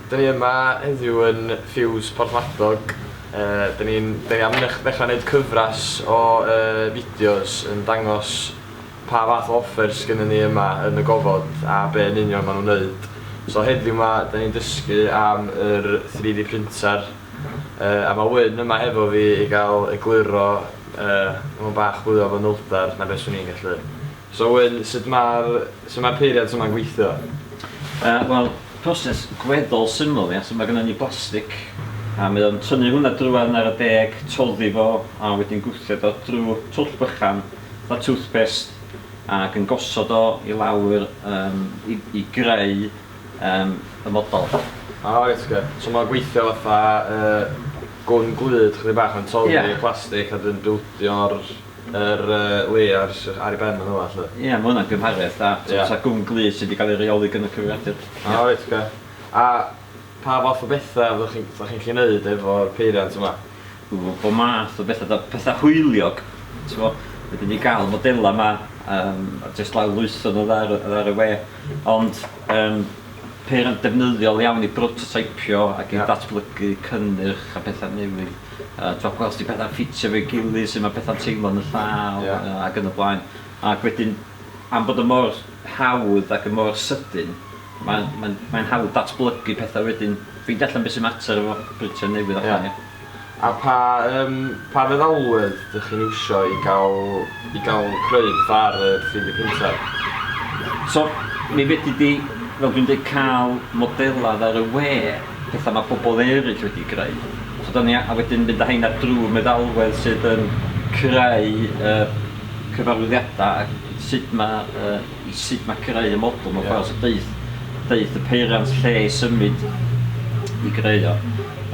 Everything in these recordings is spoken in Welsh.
Dyn ni yma heddiw yn Fuse Porthmadog, dyn ni'n dyn ni am ddechrau wneud cyfres o fideos yn dangos pa fath o offers sgynnon ni yma yn y gofod a be yn union maen nhw'n wneud. So heddiw ma dyn ni'n dysgu am yr 3D printer a mae Wyn yma hefo fi i gael egluro mewn bach fwy o fanylder na be swn i'n gallu. So Wyn, sut mae'r, sut mae'r peiriant yma'n gweithio? Yy, wel, proses gweddol syml, ia. So ma' gynnon ni blastic, a mae o'n tynnu hwnna drwadd ar y deg, toddi fo, a wedyn gwthio o drw twll bychan, fatha toothpaste, ac yn gosod o i lawr yym i i greu yym y model. O reit ocê. So ma'n gweithio fatha yy gwn glud chydig bach yn toddi... Ia. ...y plastic a wedyn bildio'r... Yr Lee ar sy- ar ei ben yn fama 'lly. Ie ma' hwnna'n gymhariaeth da. T'mo' Ie. sa Gwm Glith sy 'di ga'l ei reoli gyn y Cyfrifiadur. O reit oce. A pa fath o betha fyddwch chi'n fyddwch chi'n 'llu neud efo'r peiriant yma? Ww bo' math o betha 'da. Petha hwyliog t'mo'. Fedri di ga'l modela 'ma yym a jyst lawrlwytho n'w ar y ar y we ond yym papur yn defnyddiol iawn i brototeipio ac i ddatblygu cynnyrch a pethau newydd. Uh, Dwi'n gweld sy'n pethau ffitio fe gilydd, sy'n mae pethau'n teimlo yn y llaw yeah. uh, ac yn y blaen. Ac wedyn, am bod y mor hawdd ac y mor sydyn, mae'n mae, mae hawdd datblygu pethau wedyn. Ffeindio allan beth sy'n mater efo brintio newydd allan. Yeah. A pa yym pa feddalwedd dych chi'n iwsio i gael i gael creu petha ar y 3D printer? So mi fedri di, fel dwi'n deud, cael modelad ar y we, petha ma' pobl eryll wedi greu. So da ni a wedyn mynd â heina drw meddalwedd sydd yn creu y cyfarwyddiada a sut ma' yy i sut mae creu y model mewn ffordd, so deuth, deuth y peiriant lle i symud i greu o.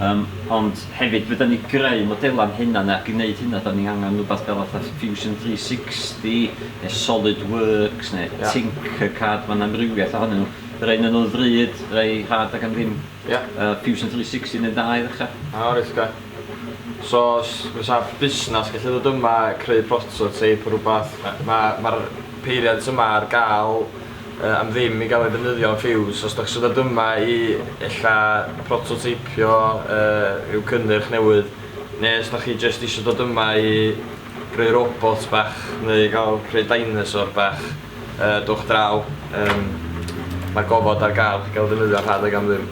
Um, ond hefyd, fydden ni greu modelau'n hynna, neu ac i wneud hynna, da ni angen rhywbeth fel fatha Fusion 360, neu SolidWorks, neu yeah. Tinkercad, mae'n amrywiaeth ohonyn nhw. Rhaid nhw'n nhw'n fryd, rhai rhad ac am ddim. Yeah. Uh, Fusion 360 neu'n dda i ddechrau. O, oh, reit, So, fysa busnes gallu dod yma, creu prototype, rhywbeth, mae'r ma, ma peiriant yma ar gael yy am ddim i gael ei ddefnyddio yn Fuse. Os dach chi isio dod yma i ella prototeipio yy rhyw cynnyrch newydd neu os dach chi jyst isio dod yma i greu robot bach neu i gael creu dinosaur bach yy dowch draw yym mae'r gofod ar gael i gael ei ddefnyddio rhad ag am ddim.